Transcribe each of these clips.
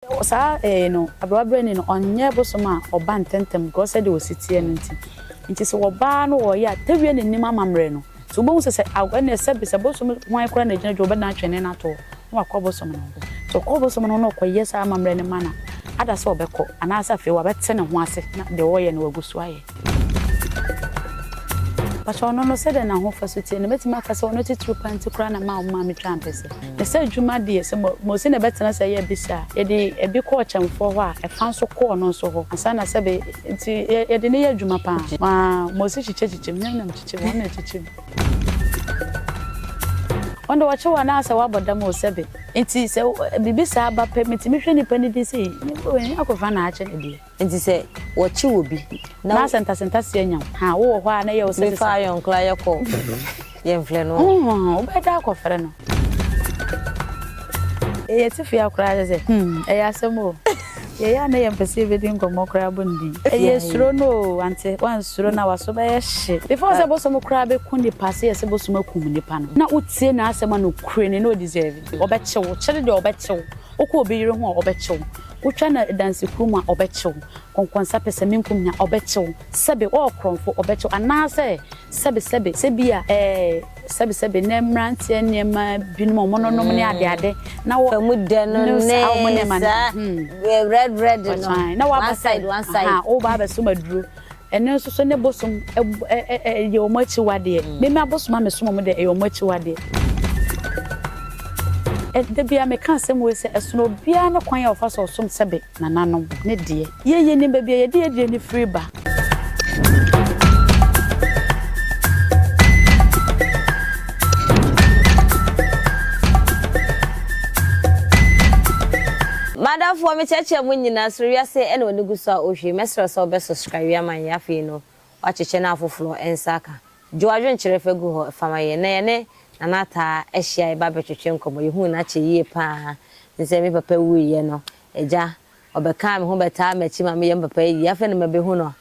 Wɔ saa ɛɛ no, aberɛwaberɛni no, ɔnyɛ bosom a ɔba ntɛmntɛm korɔ sɛdeɛ ɔsi teɛ no nti. Nti sɛ ɔbaa no ɔɔyɛ a, tɛwie n'anim amammerɛ no. Nti wobɛhu sɛ sɛ aw ɛnneɛ sɛbe sɛ bosom hwan koraa na ɛgyina adwuma ɔbɛdan twene no ato hɔ na wakɔ bosom no ho. Nti ɔkɔ bosom no ho na ɔkɔyɛ saa amammerɛ no ma no ada sɛ ɔbɛkɔ anaasɛ afei wabɛte ne ho ase na deɛ ɔɔyɛ no wagu so ayɛ. Pakyɛ ɔno no sɛdɛn na ahofaso teɛ no mɛtumi aka sɛ ɔno titiriw paa nti koraa na ɛmaa wo maame twaa mpɛsɛ? Ne sɛ adwuma deɛ sɛ Mose na ɛbɛtena ase ayɛ bi saa a, yɛde ɛbi kɔ ɔkyɛmfoɔ hɔ a ɛfa nso kɔ ɔno nso hɔ ansa na sɛbe nti yɛde no yɛ adwuma paa ma Mose kyekyɛ kyekyɛm hwɛ na mekyekyɛ mu ɔno na ɛkyekyɛ mu. Ɔno deɛ ɔkye wo anaasɛ wabɔ dam o sɛbe nti sɛ biribi saa ba pɛ metumi hwɛ nipa no din sɛ ei Akofena na akye no deɛ. Enti sɛ wɔkye obi na. Na sɛ ntasentasea nya wo. Ha, wowɔ hɔ a na ɛyɛ wo sɛ sesa. Mefa ayɔnkola yɛ kɔ yɛmfrɛ no. Hohoho, wobɛda akɔfrɛ no. Yɛyɛ atifua koraa kyɛ sɛ. Hmm, ɛyɛ asɛm o. Yɛyɛ a na yɛmpɛ sɛ yɛbɛdi nkɔmmɔ koraa bɔ ne din. Ɛyɛ suro no o, wante? Woansuro na w'aso bɛyɛ hye. Before sɛ bosom koraa bɛku nnipa, sɛ yɛse bosom akum nnipa no, na wotie n'asɛm a nokorɛ ni na ɔdeserve. Ɔbɛkye wo, kyere deɛ ɔbɛkye wo. Wokɔ obi yere ho a, ɔbɛkye wo. Wotwa no adansekuo mu a, ɔbɛkye wo. Kɔnkɔnsa pɛsɛmenkom nya, ɔbɛkye wo. Sɛbe woyɛ ɔkorɔmfo, ɔbɛkye wo. Anaasɛ sɛbe sɛbe sɛ bi a ɛɛ sɛbe sɛbe nnɛ mmeranteɛ nneɛma binom a wɔnonom ne adeade na wɔ Emu dɛ no ne ne saa nneɛma no. saa Hmm. red red no. Ɔkyan na one waba side side one side. ahaa woba abɛsom aduro. Ɛno nso so ne bosom yɛ wɔn akyiwadeɛ. Meme abosom a mesom wɔn deɛ, ɛyɛ wɔn akyiwadeɛ. Da biara meka asɛm wei sɛ, ɛsono obiara ne kwan a ɔfa so ɔsom sɛbe nananom ne deɛ. Yei yɛnim baabi a yɛde yɛn aduane firi ba. M'adamfoɔ me kyerɛkyerɛ mo nyina soro wiase ɛna ɔni gu so a ɔhwɛ mɛsrɛ wo sɛ wobɛ subscribe yi ama yɛn afei no wakyɛkyɛ na afoforɔ nsa aka gye wadwenkyerɛ fa gu hɔ fama yɛn na yɛne Nana ataa ahyia yɛba bɛtwetwe nkɔmɔ yɛhuu no akyɛ yie paa nsɛ me papa wuiɛ no agya ɔbɛkaa me ho bɛtaa makyi ma meyɛ me papa ayie afei na mabɛhu no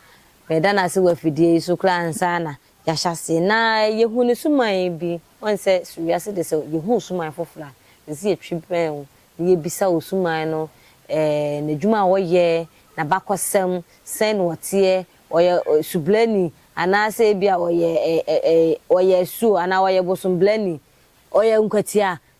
meda no ase wɔ afidie yi so koraa ansa na Yɛahyɛ ase na yɛahu ne suman bi. Woahu sɛ so wiase de sɛ yɛhu wo suman foforɔ a, ɛsɛ sɛ yɛtwe bɛn wo na yɛbisa wo suman no, n'adwuma a ɔyɛ, n'abakɔsɛm, sɛn na ɔteɛ, ɔyɛ subrani anaasɛ ebia ɔyɛ asuo anaa ɔyɛ bosombrani, ɔyɛ nkwatia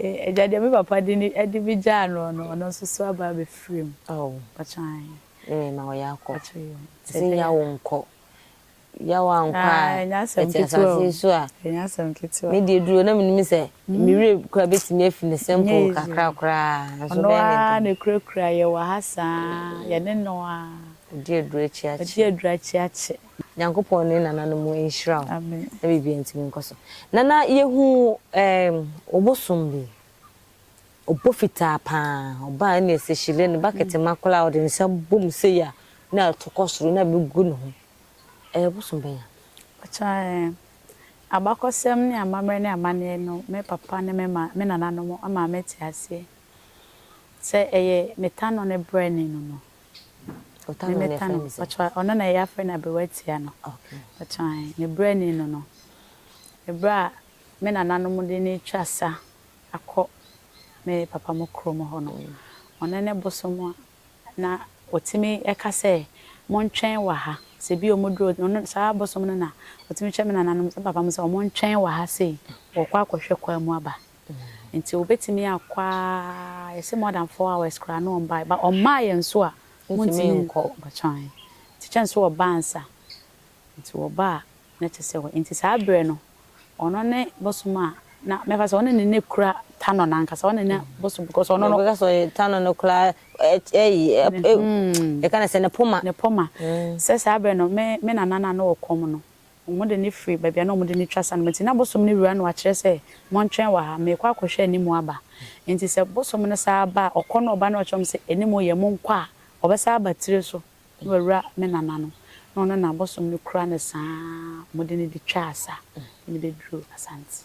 Agya deɛ me papa de ne de me gyaa noɔ no ɔno nso so aba abɛfiri mu. Oh. Mpakyɛ ae. Ne me ma ɔyɛ akɔ. Mpakyɛ yo. Sɛ yaw nkɔ. Yaw ankɔ a. Ah, ɛnyɛ asɛm ketewa. Ɛte asase so a. Ɛnyɛ asɛm ketewa. Me deɛ duro na menim sɛ. Me werɛ kura bɛtumi afi ne simple kakra koraa. Nso bɛyɛ ne dɛn. Ɔno ara na ɛkurakura yɛ wɔ ha saa. Yɛne no ara. Ɔdi aduro akyi akye. Ɔdi aduro akyi akye. Nyankopɔn ne nananom nhyira wo Amen. na biribiara ntumi nkɔ so. Nana yɛhu ɛɛm obosom bi, ɔbɔ fitaa paa, ɔbaa ɛna ɛsɛ hyire no bucket ma koraa ɔde ne nsa bɔ mu sei a na ɛto kɔ soro na ɛbɛ gu ne ho. Ɛyɛ bosom bɛn a? Mpakyɛ ɛɛ abakɔsɛm ne amammerɛ ne amaneɛ no me papa ne me maa me nananom ama mate aseɛ sɛ ɛyɛ metano ne brɛne no no Ɔtano na ɛfrɛ ne sɛ? Ɔno na yɛafrɛ no aberewatia no. Ne berɛ ni no no, berɛ a me nananom de no retwa sa akɔ me papa mo kurom hɔ no, ɔno ne bosom a na ɔtumi ka sɛ, montwɛn wɔ ha, sɛ bi ɔmɔduru, saa bosom no na ɔtumi kyerɛ me nananom, me papa mo sɛ wɔntwɛn wɔ ha sei, wɔrekɔ akɔhwɛ kwan mu aba. Nti obetumi akɔ aa yɛse more than four hours koraa na ɔmbae but ɔmmaa yɛn nso a wontumi nkɔ mpakyɛw ahe nti kyɛ nso ɔba ansa nti ɔba a na kyɛ sɛ hɔ nti saa berɛ no ɔno ne bosom a na mɛfa sɛ ɔne ne ne kura tanɔ no ankasa ɔne ne bosom because ɔno no Ɔbɛka sɛ ɔyɛ tanɔ no koraa ɛt ɛyi ɛp ɛw yɛka ne sɛ ne poma ne poma sɛ saa berɛ no me me nana no a na ɔwɔ kɔm no Wɔde no firi baabi a na wɔde no twa sa no mu. Enti na bosom no wura no akyerɛ sɛ, Montwɛn wɔ ha, merekɔ akɔhwɛ anim aba. Enti sɛ bosom no san ba a, ɔkɔ na ɔba na ɔkyerɛ wɔn sɛ, Anim reyɛ, monkɔ a, ɔbɛsan aba tire so na wawura me nana no, na ɔno na bosom no kura no saa a wɔde no de twaa sa de no bɛduruu Asante.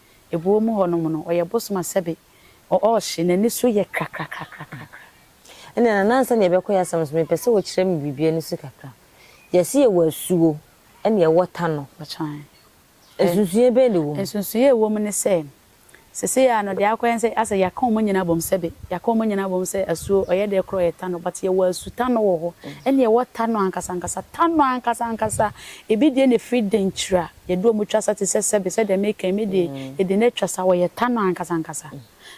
Ebuo mu hɔnom no, ɔyɛ bosom a sɛbe ɔɔhye, n'ani so yɛ krakrakrakrakra. Ɛnna Nana ansa na yɛbɛkɔ yɛ asɛm so, mepɛ sɛ wokyerɛ me biribi ani so kakra. Yɛse yɛwɔ asuo ɛnna yɛwɔ tano. Ɔkyan. Nsunsunyɛ bɛn na ɛwɔ mu? Nsunsunyɛ a ɛwɔ mu ne sɛ, seesei ara no, deɛ akɔyɛ ne sɛ asɛ yɛaka wɔn nyinaa abom sɛbe, yɛaka wɔn nyinaa abom sɛ asuo, ɔyɛ deɛ korɔ yɛ tano, but yɛwɔ asutano wɔ hɔ, ɛnna yɛwɔ tano ankasankasa, tano ankasankasa, ebi deɛ na ɛfiri Denkyira, Yɛde wɔn twa sa te sɛ sɛbe, sɛdeɛ meka yi, me deɛ, yɛde no atwa sa, wɔyɛ ta no ankasa ankasa.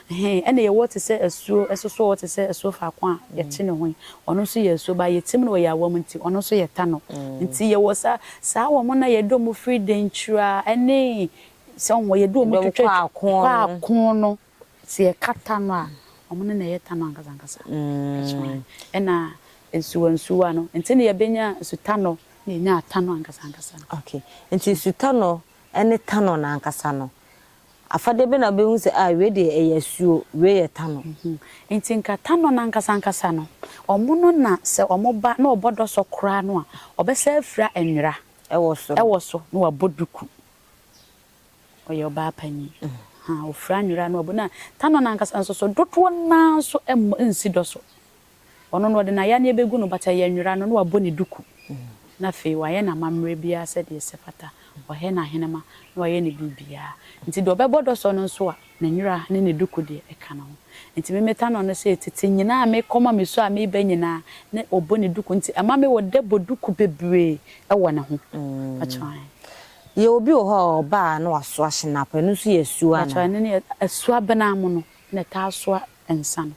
Ɛhɛ, ɛna yɛwɔ te sɛ asuo, ɛsosɔ hɔ te sɛ asuo faako a yɛte ne ho yi, ɔno nso yɛ asuo, but yɛtim no wɔ yɛn awam nti, ɔno nso yɛta no. Nti yɛwɔ sa, saa wɔn no a yɛde wɔn firi Denkyira ne, sɛ wohu a, yɛde wɔn twitwa, kɔ ako no. Sɛ yɛka ta no a, ɔmo no na ɛyɛ ta no ankasa ankasa. Ɛna nsuwa nsuwa no, nti na yɛbɛnya nsu ta no na yɛnya ta no ankasa ankasa no. Ok, nti nsu ta no ne ta no no ankasa no, afadeɛ bɛ na wobɛhu sɛ ah wei deɛ ɛyɛ asuo, wei yɛ ta no? Nti nka ta no no ankasa ankasa no, ɔmo no na sɛ ɔmo ba na ɔbɔ dɔsɔ koraa no a, ɔbɛsa afira nwera ɛwɔ so na wabɔ duku. Ɔyɛ ɔbaa panyin. Ha, ofura nwera ne ɔbo, na Tano no ankasa nso so, dodoɔ no ara nso mmɔ nsi dɔ so. Ɔno no, wɔde n'ayaneɛ bɛgu no, but ɛyɛ nwera no, na wabɔ ne duku, na afei wayɛ n'amammerɛ biara sɛdeɛ ɛsɛ fata, wayɛ n'ahenema, na wayɛ ne biribiara. Nti deɛ ɔbɛbɔ dɔ so no nso a, ne nwera ne ne duku deɛ, ɛka ne ho. Nti me, me Tano no sei, tete nyinaa a mekɔ ma mesu a meba nyinaa, na ɔbɔ ne duku, nti ɛma me wɔ dɛ bɔ duku bebree wɔ ne ho. Pakyɛ wo ahe? Yɛ obi wɔ hɔ a ɔba a na wasoa hyinap, ɛno nso yɛ asuo Mpakyɛw anaa? ɛno ne asuo abenaa mo no na ɛtaa soa nsa no.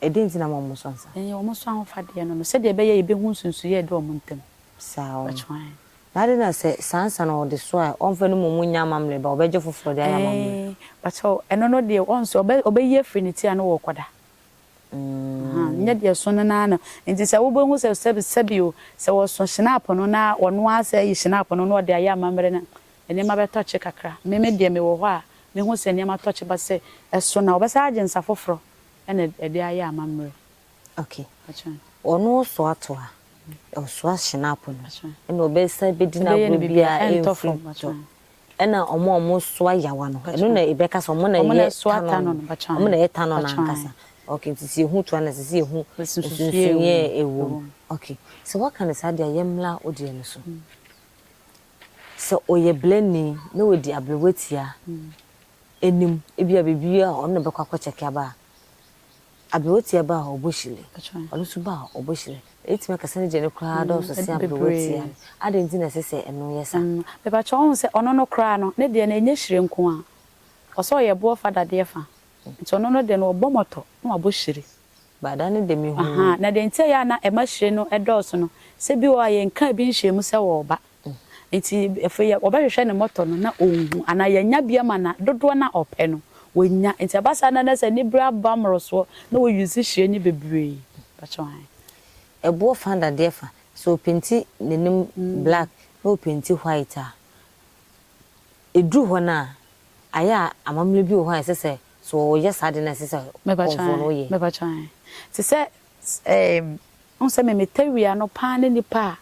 Ɛdɛn nti na mo a mo soa nsa? Ɛyɛ wɔn so ahofadeɛ no no sɛdeɛ ɛbɛyɛ yɛbɛhu nsunsuiɛ a ɛda wɔn ntam. Saa wɔn. Mpakyɛw ae. Na adɛn na sɛ saa nsa no ɔde soa a ɔmfa no mmom nyɛ amammerɛ ba ɔbɛgye foforɔ de ayɛ amammerɛ? Ɛɛ mpakyɛw ɛno no deɛ wɔn nso ɔbɛ ɔbɛyi afiri ne ti a na ɔrekɔda. Ahaa, nyɛ deɛ ɛso no no ara na, nti sɛ wobɛhu sɛ sɛbi sɛbi o, sɛ wɔso hyenapo no na ɔno ara sɛ ayi hyenapo no na ɔde ayɛ amammerɛ no a, nneɛma bɛtɔkye kakra. Me me deɛ mewɔ hɔ a, mehu sɛ nneɛma tɔkye ba sɛ ɛso no a, wɔbɛsan agye nsa foforɔ na ɛde ayɛ amammerɛ. Okay. Ɔno ɔso ato a, ɔsoa hyenapo no, ɛna ɔbɛsan bɛdi no agorɔ biara ɛmfiri mu. Ɛna ɔmo a ɔmo soa yawa no, ɛno na ebɛka sɛ ɔmo na ɛyɛ tanɔn no, ɔmo na ɛyɛ tanɔn no ankasa. Ok, nti sɛ yehu toa no a, ɛsɛ sɛ yehu nsunsuyeɛ a ɛwɔ mu. Ok, sɛ waka no saa deɛ a, yɛmmra wo deɛ no so. Sɛ ɔyɛ blani na wadi aberewatia anim, ebia biribi a ɔno na ɔbɛkɔ akɔkyɛke aba a, Aberewatia ba a ɔbɔ hyire. Ɔno nso ba a ɔbɔ hyire. Yɛbɛtumi aka sɛ ne deɛ no koraa dɔɔso sen aberewatia no. Adɛn nti na ɛsɛ sɛ ɛno yɛ saa? Mepa kyɛw, wohu sɛ ɔno no koraa no, ne deɛ no ɛnyɛ hyire nko ara. Ɔsɛ ɔyɛ boɔ fa dadeɛ fa. Nti ɔno no deɛ no, ɔbɔ mɔtɔ na wabɔ hyire. Baada no deɛ, mehunuu. Na deɛ nti a ɛyɛ a na ɛma hyire no dɔɔso no, sɛ bi wɔ hɔ a, yɛnkaa bi nhyɛɛ mu sɛ wɔreba. Enti afei yɛ, wɔbɛhwehwɛ ne mmɔtɔ no na ɔnhu, anaa yɛanya bi ama no a, dodoɔ no a ɔpɛ no, wanya. Enti ɛba saa na na sɛ aniberɛ aba mmorosoɔ na wɔ use hyire no bebree. Mpakyɛw ae. Ɛboɔ fa dadeɛ fa. Sɛ ɔpenti n'anim black na ɔpenti white a, ɛduru hɔ no a, ayɛ a amammerɛ bi wɔ hɔ a ɛsɛ sɛ, sɛ ɔreyɛ saa adeɛ no a ɛsɛ sɛ Mepakyɛw ɔfoɔ no ae, woyɛ? mepakyɛw ae. Te sɛ Sɛm, wohu sɛ me me tɛwia no paa ne nnipa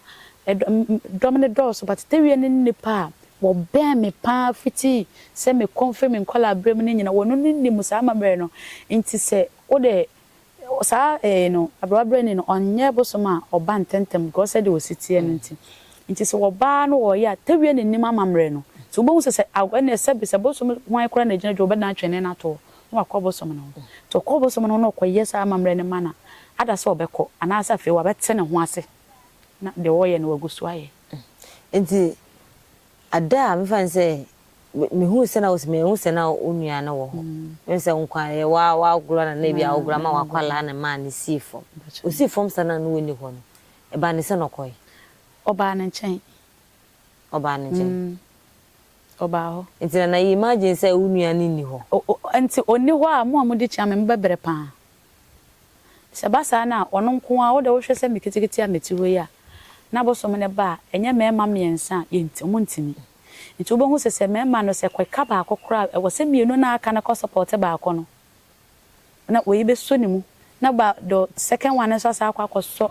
a ɛdɔ me me dɔm no dɔɔso but tɛwia no ne nnipa a wɔbɛn me paa fiti sɛ me kɔ mfiri me nkɔlaa berɛ mu no nyina wɔno no nim saa amammerɛ no nti sɛ wode saa ɛɛ no aberɛwa berɛni no ɔnyɛ bosom a ɔba ntɛntɛm because sɛdeɛ ɔsi teɛ no nti nti sɛ ɔbaa no ɔyɛ a tɛwia no nim amammerɛ no nti wobɛhu sɛ sɛ aw ɛnneɛ sɛbe sɛ bosom hwan koraa na ɛgyina dwa wɔbɛdane atwene no atoɔ na wakɔ bosom no ho. Nti ɔkɔɔ bosom no ho na ɔkɔyɛ saa amammerɛ no ma no a, ada sɛ ɔbɛkɔ? Anaasɛ afei wabɛte ne ho ase na deɛ ɔreyɛ no wagu so ayɛ? Nti ada a mefa no sɛ mehuu sɛ na ɔsi mahu sɛ na wo nua no wɔ hɔ. Mehu sɛ nkwa yɛ wa wagorɔ na na ebi a wagorɔ ama wakwadaa no maa no sii fam. Ɔsii fam saa na na wɔnni hɔ no, ɛbaa ne sɛ na ɔkɔe? Ɔbaa ne nkyɛn. ɔbaa no gyen. Mm. Ɔbaa hɔ. Nti na na you imagine sɛ wo nua no nni hɔ? O-o, nti onni hɔ a mo a modi kyen me mobɛbrɛ paa? Sɛ ɛba saa no a, ɔno nko ara, wo deɛ wohwɛ sɛ me ketekete a mete hɔ yi a, na abosom no ba a, ɛnyɛ mmarima mmiɛnsa a, yɛnt, ɔmo ntumi. Nti wobɛhu sɛ, sɛ mmarima no, sɛ ɛka baako koraa a, ɛwɔ sɛ mmienu no a aka no kɔ support baako no, na wei bɛsɔ ne mu, na ba, the second one no nso asan akɔ akɔsɔ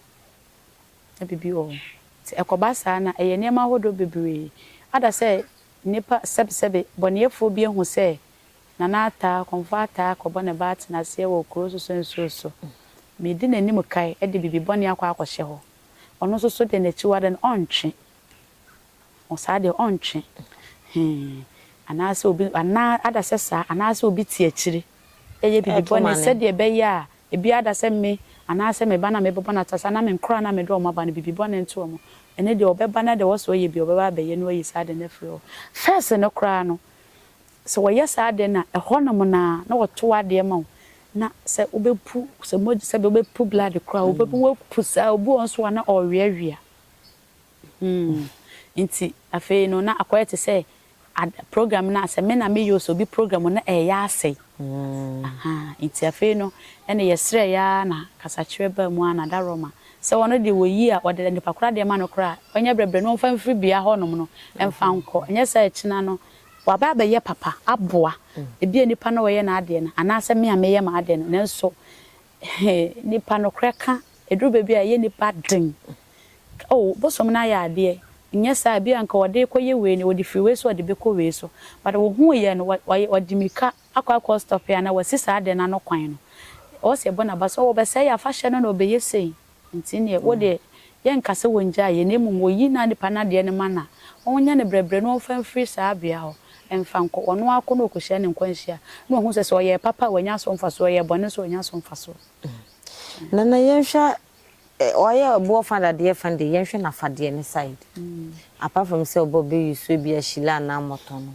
Biribi wɔ hɔ. Sɛ ɛkɔba saa no a, ɛyɛ nneɛma ahodoɔ bebree. Ada sɛ nnipa sɛbesɛbe bɔneɛfoɔ bi ahu sɛ Nana ataa, Kɔmfoɔ ataa akɔbɔ ne ba atenaseɛ wɔ kuro so so nsuo so. Medi n'anim kae de biribi bɔne akɔ akɔhyɛ hɔ. Ɔno nso so deɛ n'akyiwadeɛ no, ɔntwe. Ɔ saa deɛ, ɔntwe. Hee. Anaasɛ obi, anaa ada sɛ saa, anaasɛ obi te akyire. yɛ biribi bɔne sɛdeɛ ɛbɛyɛ a ebiara da sɛ me, anaasɛ me ba no a mebɛbɔ no atase, anaa me nkoraa no a mede wɔn aba no, biribi bɔne nto wɔn, ɛno deɛ ɔbɛba na deɛ ɔwɔ sɛ ɔyɛ biara ɔbɛba abɛyɛ na wayi saa ade no afiri hɔ. First no koraa no, sɛ wɔyɛ saa ade no a, ɛhɔnom no ara na wɔto adeɛ ma wo, na sɛ wobɛpu, sɛ mogya, sɛdeɛ wobɛpu blood koraa, wobɛpu, woapu saa a, obi wɔ hɔ nso a na ɔreweawea. Nti afei no na akɔyɛ te sɛ ad program no a sɛ me na meyɛ o sɛ obi program no ɛyɛ asɛe ahaa nti afei no ɛna yɛsrɛɛ aa na kasakyerɛ baa mu aa na da Roma sɛ ɔno deɛ wɔyi a ɔde nipakora deɛ ma no koraa a ɔnyɛ brɛbrɛ na ɔmfa mfiri bea hɔ nom no mfa nkɔ ɛnyɛ saa akyina no waba abɛyɛ papa aboa ebia nipa no ɔyɛ n'adeɛ no anaa sɛ me a meyɛ m'adeɛ no nanso hee nipa nokorɛ ka ɛduru baabi a ɛyɛ nipa den Oh, bosom no ayɛ adeɛ, nyɛ saa, ebia nka ɔde rekɔ yɛ wei na ɔde firi wei so ɔde bɛkɔ wei so, but wohuu yɛ no, wayɛ, wadi mirika akɔ akɔ stop anaa wasi saa adeɛ no ano kwan no. Ɔwɔ sɛ yɛbɔ no aba sɛ, oh, ɔbɛsɛe yɛn afahyɛ no na ɔbɛyɛ sei. Nti neɛ, wo deɛ, yɛnka sɛ wɔngyaa yɛ, na mmom wɔyi na nipa no adeɛ no ma no a, wɔnyɛ no brɛbrɛ na wɔmfa mfiri saa bea hɔ mfa nkɔ, ɔno ara kɔ na ɔkɔhyia ne nkwanhyia, na wahu sɛ, sɛ ɔyɛɛ papa a, wanya so mfasoɔ, ɔyɛɛ bɔne nso a, wanya so mfasoɔ. Nana, yɛnhwɛ Ɔyɛ ɔboɔ fa dadeɛ fa deɛ yɛnhwɛ nafadeɛ ne side apart from sɛ ɔba ɔbɛyi so ebi a shila anaa mɔtɔ no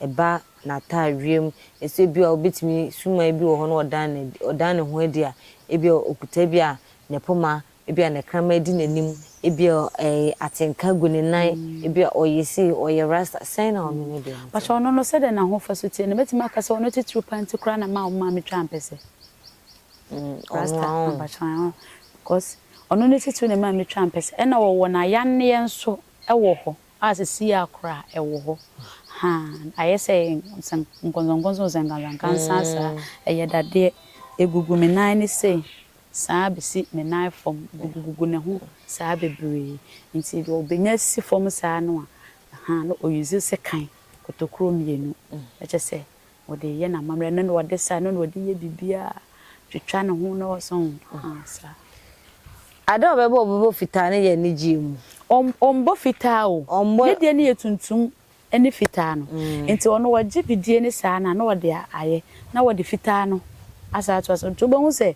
ɛba nataa wiem ɛsɛ ebi a ɔbɛtumi sumaa bi wɔ hɔ na ɔdan no adi ɔdan ne ho adi a ebi a ɔkuta ebi a ne poma ebi a ne kraman adi n'anim ebi a ɛɛ atenka gu ne nan ebi a ɔyɛ sei ɔyɛ rasta sɛn na ɔno ne deɛ no teɛ. Pakyɛ ɔno no sɛdɛn na ahofaso teɛ na mɛtumi aka sɛ ɔno titiriw paa nti koraa na mma ɔmmaa me twaa mpɛsɛ. Rasta ampakyerɛw hɔ because ɔno ne titiriw na ɛma metwa ampɛsɛ. Ɛna wɔwɔ n'ayanneɛ nso wɔ hɔ a sesie ara koraa ɛwɔ hɔ. Haa ayɛ sɛ nkɔnsɔnkɔnsɔn sɛnkansɛnkansa saa. Ɛyɛ dadeɛ. Ɛgugu me nan no sei saa bɛsi me nan fam. Ɛgugugugu ne ho saa bebree. Nti deɛ ɔbɛnya si fam saa no a, haa na ɔ use sekan kotokuro mmienu. Ɛkyɛ sɛ Ɔde reyɛ n'amammerɛ, ɛno na ɔde sa, ɛno na ɔde yɛ biribiara, twitwa ne ho na ɔsɔ ho, ah, saa. Ade a ɔbɛbɔ, ɔbɛbɔ fitaa no yɛ anigyeɛ mu. Ɔm, ɔmbɔ fitaa o. Ɔmbɔ. Ne deɛ no yɛ tuntum ne fitaa no. Nti ɔno ɔgye bidie no saa na na ɔde ayɛ, na ɔde fitaa no asan ato ase. Nti wobɛhu sɛ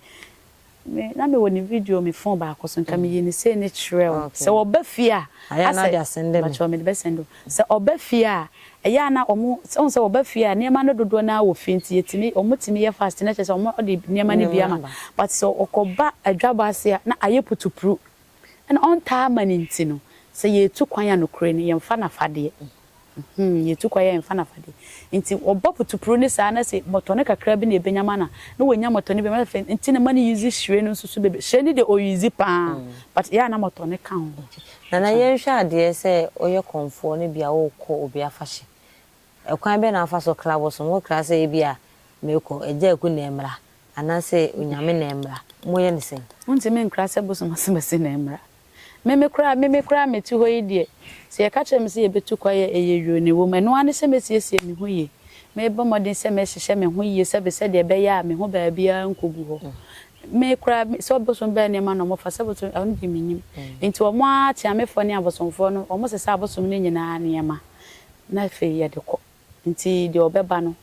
Me na me wɔ ne video me phone baako so nka me yi ne sei ne kyerɛ wo sɛ wɔ ba fie a asɛ mpakyɛw me de bɛ sɛndo sɛ ɔba fie a ɛyɛ a na ɔmo sɛ ɔmo sɛ wɔ ba fie a nneɛma no dodoɔ naa wɔ fie nti yɛtumi ɔmo tumi yɛ fast na kyerɛ sɛ ɔmo ɔde nneɛma no bi ama but sɛ ɔkɔ ba adwabɔ ase a na ayɛ putupru Ɛna ɔntaa ma no nti no, sɛ yɛretu kwan a nokorɛ ni, yɛmfa n'afadeɛ. Mhmm, yɛretu kwan a yɛmfa n'afadeɛ. Nti wɔbɔ putupuruw no saa na sɛ mɔtɔne kakra bi na ɛbɛnya ma no a, na wanya mɔtɔne bi ama no. Afei nti na ma no use hyire no nso so bebree. Hyire no deɛ ɔ use pa ara but ɛyɛ a na mɔtɔne ka ho. Nana yɛnhwɛ adeɛ sɛ woyɛ kɔmfoɔ no bia worekɔ obi afahyɛ Ɛkwan bɛn na wofa so kra bosom? Wokra sɛ ebia merekɔ Agya Aku na ɛmmra anaasɛ Onyame na ɛmmra. Moyɛ no sɛn? Wontumi nkra sɛ bosom asɛmasi na ɛmmra. Me me koraa, me me koraa mete hɔ yi deɛ, sɛ yɛka kyerɛ me sɛ yɛbɛtu kwan a, ɛyɛ yuu na ɛwom. Ɛno ara ne sɛ mɛsiesie me ho yie. Merebɔ mmɔden sɛ mɛhyehyɛ me ho yie sɛbe sɛdeɛ ɛbɛyɛ a me ho baabiara renkɔgu hɔ. Me koraa, sɛ bosom bɛn nneɛma na wɔfa sɛ bosom, ɛno deɛ mennim. Enti wɔn ara, Teamefoɔ ne abosomfoɔ no, wɔsesa abosom no nyinaa nneɛma. na afei yɛde kɔ, nti deɛ ɔbɛba no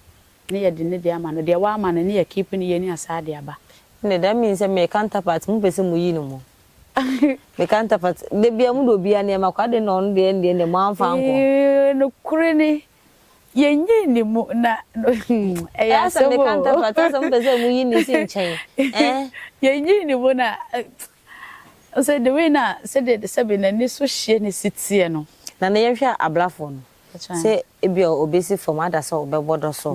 ne yɛde ne deɛ ama no, deɛ w'ama no ne yɛ keep ne yɛni asaa de aba. Ɛnde that means sɛ me counterpart mo pɛ sɛ mo yi no mo me counterpart da biara mo de obiara nneɛma kɔ adɛn na ɔno deɛ ɛndeɛ ɛndeɛ mo anfa ankɔ. Eeii nokore ni yɛ nyii ne mu na ɛyɛ asɛm oo. Ɛyɛ sɛ me counterpart asɛ mo pɛ sɛ mo yi ne si nkyɛn eh. Yɛ nyii ne mu na Ɔsɛ the way no a sɛdeɛ de sɛbe n'ani so hyeɛ na ɛsi teɛ no. Na na yɛnhwɛ ablafoɔ no sɛ ebia ɔbɛsi fam ada sɛ ɔbɛbɔ dɔ so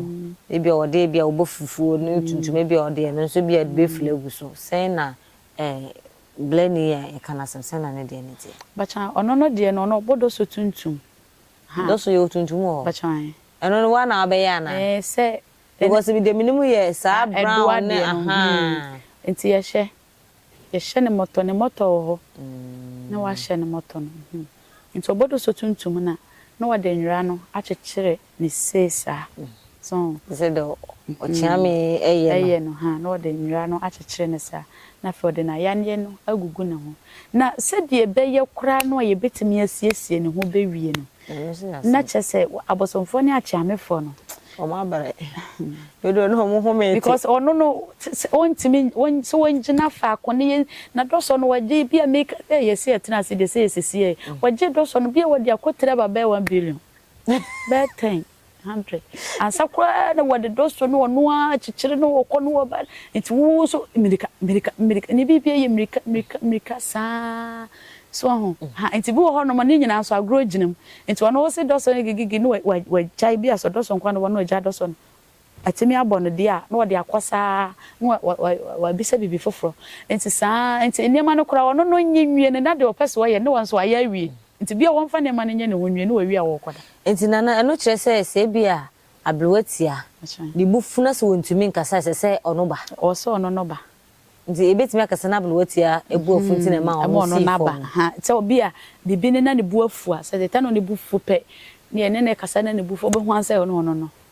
ebia ɔde ebia ɔbɔ fufuo ne tuntum ebia ɔde ɛno nso ebia ɔde bɛfiri agu so sɛn na eh blani yi a yɛka no asɛm sɛn na ne deɛ no teɛ. Bakya ɔno no deɛ no ɔno ɔbɔ dɔ so tuntum. Dɔ so yɛwɔ tuntum wɔ hɔ? Bakya eh. Ɛno no woa na wabɛyɛ anaa? Eh sɛ. Because me deɛ menim yɛ saa brown ne ahaa. Nti yɛhwɛ Yɛhyɛ no mɔtɔ ne mɔtɔ wɔ hɔ na wɔahyɛ no mɔtɔ no ho nti ɔbɔdɔ so tuntum no a na wɔde nwera no akyekyere ne se saa so ho. Sɛ deɛ ɔkyeame yɛ no. Yɛ no ha na wɔde nwera no akyekyere no saa na afei wɔde n'ayaneɛ no agugu ne ho na sɛdeɛ ɛbɛyɛ koraa no a yɛbɛtumi asiesie ne ho bɛwie no Na kyerɛ sɛ abosomfoɔ ne akyeamefoɔ no. Wɔn abrɛ. Dodoɔ no wɔn homee te. Because ɔno no sɛ ɔntumi sɛ ɔngyina faako ne yɛ na dɔsɔ no wɔgye ebi a meka sɛ yɛsi ɛtena ase deɛ sɛ yɛsisi yɛ wɔgye dɔsɔ no bi a wɔde akɔ tiri aba bɛyɛ one billion bɛyɛ ten. Hundred. Ansa koraa na wɔde dɔ so na ɔno ara kyekyere na ɔkɔ na ɔba. Nti wo nso mmirika, mmirika, mmirika. Ne biribiara yɛ mmirika, mmirika, mmirika saa. So ahu? Ha, nti bi wɔ hɔnom a ne nyinaa nso agorɔ gyina mu. Nti ɔno wo se dɔ so gigigigi na wagyae bi a sɛ ɔdɔ so nko ara na ɔba na wagyae dɔ so no, Atumi abɔ no deɛ a, na ɔde akɔ saa na wabisa biribi foforɔ. Nti saa nti nneɛma no koraa ɔno no ɔnyɛ nwie no na deɛ ɔpɛ sɛ ɔyɛ no na wɔn nso wayɛ awie. Nti bia wɔmfa nneɛma no nyɛ ne ho nwie na wawie a ɔrekɔda. Nti Nana ɛno kyerɛ sɛ sɛ ebia aberewa tia, ne bo fu na sɛ ɔntumi nkasa a ɛsɛ sɛ ɔno ba? Ɔwɔ sɛ ɔno no ba. Nti ɛbɛtumi aka sɛ na aberewa tia bo afu nti na ɛma ɔno sii fam no? Sɛ ebia biribi no na ne bo afu a, sɛ the time a ne bo fu pɛ, deɛ ɛne no rekasa na ne bo fu a, ɔbɛhu ara sɛ ɛno ɔno no.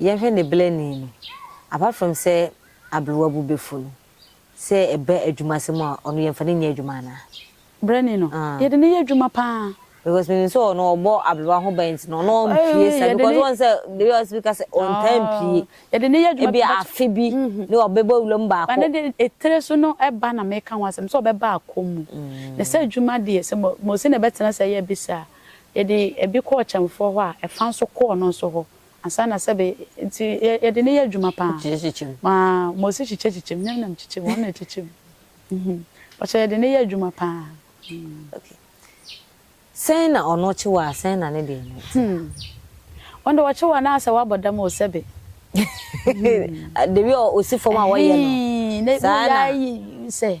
yɛnhwɛ ne bɛlɛni no, apart from sɛ aberewa bo bɛfu no, sɛ ɛba adwumasɛm a, ɔno yɛmfa no nyɛ adwuma anaa? Bɛlɛni no, yɛde no yɛ adwuma pa ara. Because menim sɛ ɔno ɔbɔ aberewa ho ban nti no, ɔno ɔmpue saa, because woahu sɛ dabi a ɔsɛ bi ka sɛ ɔntaa mpue, yɛde no yɛ adwuma, ebia afe bi ne ɔbɛbɔ awura mu baako. But ne deɛ, etire so no ɛba na meka ho asɛm, sɛ ɔbɛba akɔ mu, na sɛ adwuma deɛ, sɛ Mose na ɛbɛtena ase ayɛ bi saa a, Yɛde ebi kɔɔ kyɛmfoɔ hɔ a, ɛfa nso kɔ ɔno nso hɔ ansa na sɛbe nti yɛ yɛde no yɛ adwuma pa ara. Kyekyekyekyem. Ma ma ɔsi kyekyekyekyem nyɛ nam kyekyem ɔno na ɛkyekyem mhm ɔkyɛ yɛde no yɛ adwuma pa ara mm. Okay sɛn na ɔno kye wo a sɛn na ne deɛ no te. Hmm ɔno deɛ ɔkye wo a na ayɛ sɛ wabɔ dam o sɛbe hmm. The way ɔsi fam a wɔyɛ no saa na. Ɛhee na yɛ ayɛ sɛ.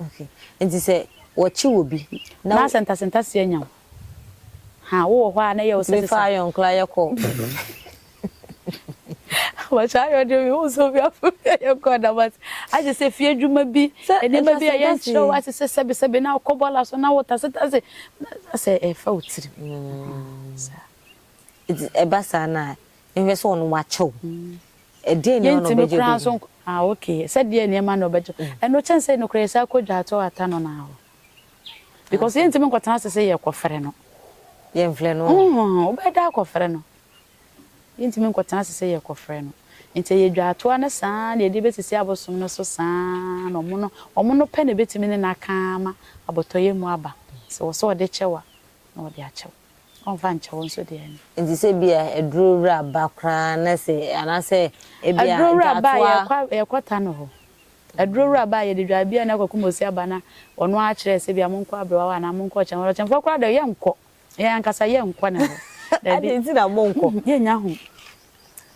Okay nti sɛ wɔkye obi na. N'asɛ ntase ntase anya wo. Haa wowɔ hɔ a na ɛyɛ wo sɛsesa. Wotumi fa iron koraa yɛ kɔ. Wɔkyɛ iron deɛ mehu sɛ obi afa bi ayɛ kɔ da but agye sɛ fie adwuma bi nneɛma bi a yɛnkyerɛ wo ase sɛ sɛbe sɛbe na wokɔ bɔɔla so na wotase tase na asɛ ɛfa wo tirim saa. Nti ɛba saa no a Nhwɛ sɛ ɔno wakyɛ wo. Ɛdeɛn nneɛma na ɔbɛgye bɛ yi? Ah ok, sɛ deɛn nneɛma na ɔbɛgye. Ɛno kyɛn sɛ nokorɛ yɛsan kɔ dwaato ata no na hɔ. Because yɛntumi nkɔtena ase sɛ yɛrekɔfrɛ no. Yɛmfrɛ no ɔ. Nhoo, wobɛyɛ dɛ akɔfrɛ no. Yɛntumi nkɔtena ase sɛ yɛrekɔfrɛ no. Nti ɛyɛ dwaato ara ne saa ara na yɛde bɛsisi abosom no so saa ara na ɔmo no, ɔmo no pɛ na ɛbɛtumi ne no aka ama abotɔyɛ mu aba. Sɛ ɛwɔ sɛ ɔde kyɛ wo a, na ɔde akyɛ wo. Ɔmfa nkyɛ wo nso deɛ no. Nti sɛ ebia aduro wura ba koraa na sɛ anaasɛ ebia dwatoa. Aduro wura ba a yɛkɔ ta no hɔ. Aduro wura ba a yɛde dwa ebia na akɔ kum osi aba na ɔno ara akyerɛ sɛ ebia monkɔ abrewa hɔ anaa monkɔ ɔkyɛn hɔ. Ɔkyɛnfoɔ koraa deɛ yɛnkɔ. Yɛn ankasa yɛnkɔ ne hɔ. Dabi. Adɛn nti na monkɔ? Yɛnnya ho.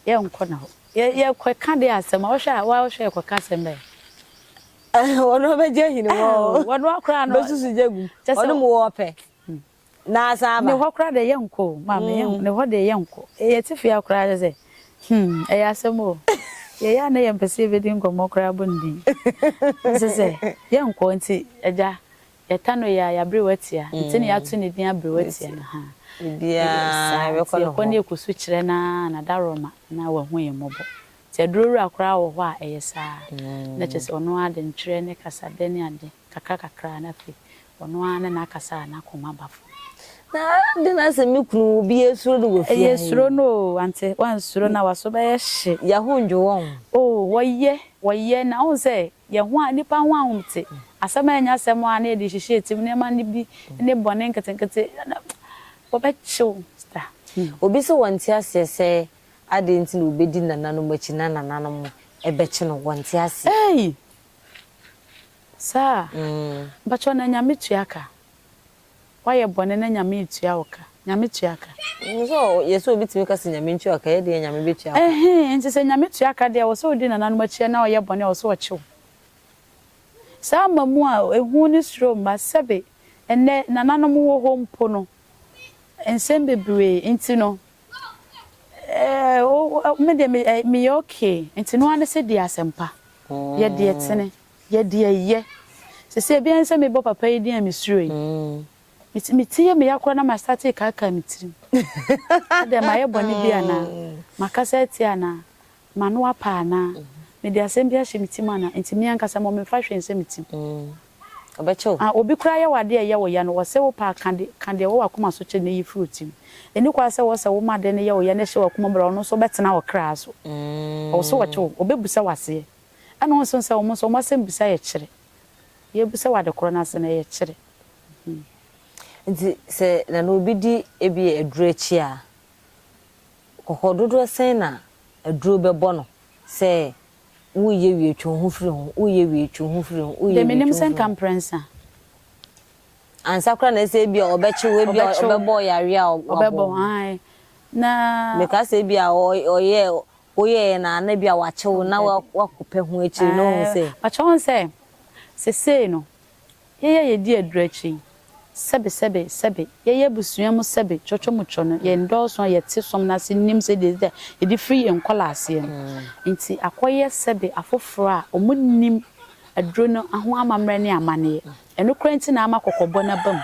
Yɛnkɔ ne hɔ. Yɛkɔka deɛ asɛm a wohwɛ a woa wohwɛ yɛkɔka asɛm bɛn? Ɔno ɔbɛgye ahi ne hɔ o. Ɔno ara koraa no. Ɔbɛsusu gya agum. Ɔne mo wɔ ɔpɛ. na asan aba. Ne hɔ koraa deɛ yɛnkɔ o, maame, yɛn, ne hɔ deɛ yɛnkɔ. Yɛte fie ha koraa kyerɛ sɛ, hmm, ɛyɛ asɛm o. Yɛyɛ a na yɛmpɛ sɛ yɛbɛdi nkɔmmɔ koraa bɔ ne din. Ɔse sɛ, yɛnkɔ, nti Agya, yɛta no yea, yɛaberew atia, nti na yɛato ne din aberew atia no, ha, ɛyɛ saa, nti yɛkɔ na yɛkɔsu kyerɛ no ara na da rema na wahu yɛn mmɔbɔ. Nti aduro wura koraa wɔ hɔ a ɛyɛ saa, na kyerɛ sɛ ɔno ara de ntwerɛ ne kasadɛ ne ade. Kakra kakra na afei ɔno ara ne n'akasa a n'akoma ba fam. Na adɛn na sɛ me kunu wu bi yɛsuro no wɔ fie ha yi? Yɛsuro no o, ante? Woansuro no a w'aso bɛyɛ hye. Yɛn ho nnwo wɔn. Oh, wɔyɛ, wɔyɛ. Na wohu sɛ yɛn ho a, nnipa ho ahomte, asɛm a ɛnyɛ asɛm a na yɛde rehyehyɛ yɛn tirim, nneɛma no bi ne bɔne nketenkete, na wɔbɛkye wo da. Obi se wɔnte aseɛ sɛ adɛn nti na obedi nananom akyi na nananom bɛkye no, wɔnte aseɛ. Ei! Saa? Mpakyɛw na Nyame tua ka? Wayɛ bɔne na Nyame retua wo ka? Nyame tua ka? Nim sɛ yɛ sɛ obi tumi ka sɛ Nyame ntua ka, yɛ deɛ Nyame bɛtua ka. Ɛhee, nti sɛ Nyame tua ka deɛ wɔ sɛ odi nananom akyi na ɔyɛ bɔne a wɔ sɛ ɔkye wo. Saa ama mu a ehu ne suro mma, sɛbe ɛnnɛ nananom wɔ hɔ mpo no, nsɛm bebree nti no, Ɛɛo me deɛ me me yɛ okay nti no ara ne sɛ di asɛmpa yɛ deɛ tene yɛ deɛ yɛ sese ebi ara ne sɛ me bɔ papa yi din a me suro yi me ti me ti yɛ me ya koraa na ma starte kaakaa me tirim sɛ deɛ ma yɛ bɔne bi anaa ma kasa atia anaa M'ano apa anaa? Mede asɛm bi ahyɛ me tirim anaa? Enti me ankasa mmom memfa hwee nhyɛ me tirim. Ɔbɛkyɛ o. A Obi koraa yɛ wo ade a ɛyɛ wo ya no, ɔsɛ wo paa ka de, ka deɛ ɛwɔ w'akoma so kyerɛ no na yi firi wo tirim. Ɛnni kwa sɛ ɔsɛ wo ma ade no yɛ wo ya na ɛhyɛ w'akoma mu bere a ɔno nso bɛtena wo kra so. Ɔwɔ sɛ ɔkyɛ wo. Ɔbɛbisa wo aseɛ. Ɛna wo nso sɛ wɔn nso wɔn asɛmbisa yɛ kyere. Yɛbisa wo ade korɔ no ase no, ɛyɛ kyere. Nti sɛ na na obi di ebia aduro akyi a. Kɔkɔ dodoɔ sɛn na aduro bɛbɔ no sɛ woreyɛ wie twe wo ho firi ho, woreyɛ wie twe wo ho firi ho, woreyɛ wie twe wo ho firi ho? Ansa koraa na ɛsɛ ebia ɔbɛkye wo, ebia ɔbɛbɔ wo yareɛ a wabɔ wo no. Mekaa sɛ ebia ɔyɛ, woyɛeɛ na na ebia wakye wo na woakɔpɛ ho akyire no, wohu sɛ. Pakyɛ wohu sɛ seesei no Yɛn a yedi aduru akyi yi, sɛbe, sɛbe, sɛbe, yɛyɛ abusua mu sɛbe, twɔtwɔ mu twɔ no, yɛn dɔɔso a yɛte som no ase nnim sɛ yɛde da yɛde firi yɛn nkɔlaaseɛ no nti akɔyɛ sɛbe afoforɔ a wɔnnim aduru no ho amammerɛ ne amanneɛ. Ɛno koraa nti na ama kɔkɔbɔ no aba mu.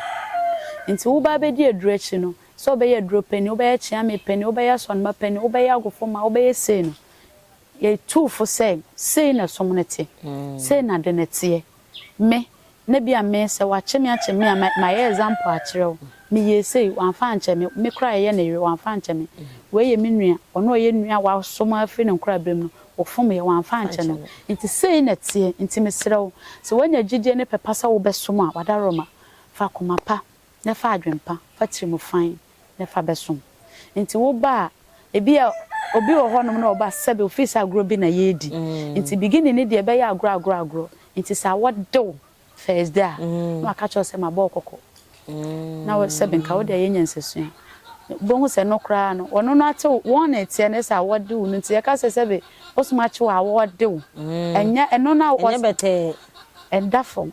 Nti wo ba bɛdi aduru akyi no, sɛ ɔbɛyɛ aduro panin, wobɛyɛ kyeame panin, wobɛyɛ asɔnema panin, wobɛyɛ agofomma, wobɛyɛ sei no, yɛtu wo fo sɛ sei na som no te, sei na ade no teɛ. me na bia me sɛ wakye me akye me a mayɛ example akyerɛ wo me yɛ sei wamfa ankyɛ me me koraa yɛ ne yere wamfa ankyɛ me wei yɛ me nua ɔno a ɔyɛ nua a waso me afiri ne nkora berɛ mu no ɔfom yɛ wamfa ankyɛ no nti sei na ɛteɛ nti mesrɛ wo sɛ wanya gyidie ne pɛ pa sɛ wobɛsom a wadaworoma fa akoma pa na fa adwempa, fa tirimu fann na fa bɛsom. Nti woba a, ebia obi wɔ hɔnom na ɔba sɛbe ofii sɛ agorɔ bi na yɛredi, nti beginning no deɛ ɛbɛyɛ agorɔ agorɔ agorɔ, nti saa wɔde wo first day a, na waka kyerɛ wo sɛ mabɔ wo kɔkɔ, na wo sɛbe nka wode ayɛ nyansasua. Wobɛhu sɛ ɛno koraa no, ɔno no ate wo, wɔn na ɛteɛ no sɛ awɔde wo no, nti yɛka sɛ sɛbe bosom akye wo a, awɔde wo. Ɛnyɛ ɛno no a, ɛnyɛ bɛtɛɛ. Ɛda fam.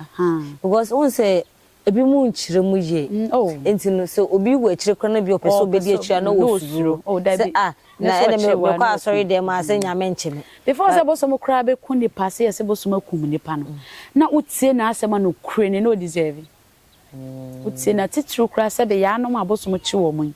Ahaa. Because wohu sɛ ebi mo nkyerɛ mu yie. Mm oh. Nti no sɛ obi wɔ akyire koraa na bi ɔpɛ sɛ ɔbɛdi akyire a na ɔsuro. Oh dabi. Sɛ ah na ɛna me me kɔ asɔre dɛm a sɛ Nyame nkye me. Before sɛ bosom koraa bɛku nnipa sɛ yɛ sɛ bosom akum nnipa no na wo tie n'asɛm a nokorɛ ni na ɔdeserve. Wo tie no atitiriw koraa sɛdeɛ yaanom a bosom kye wɔn yi.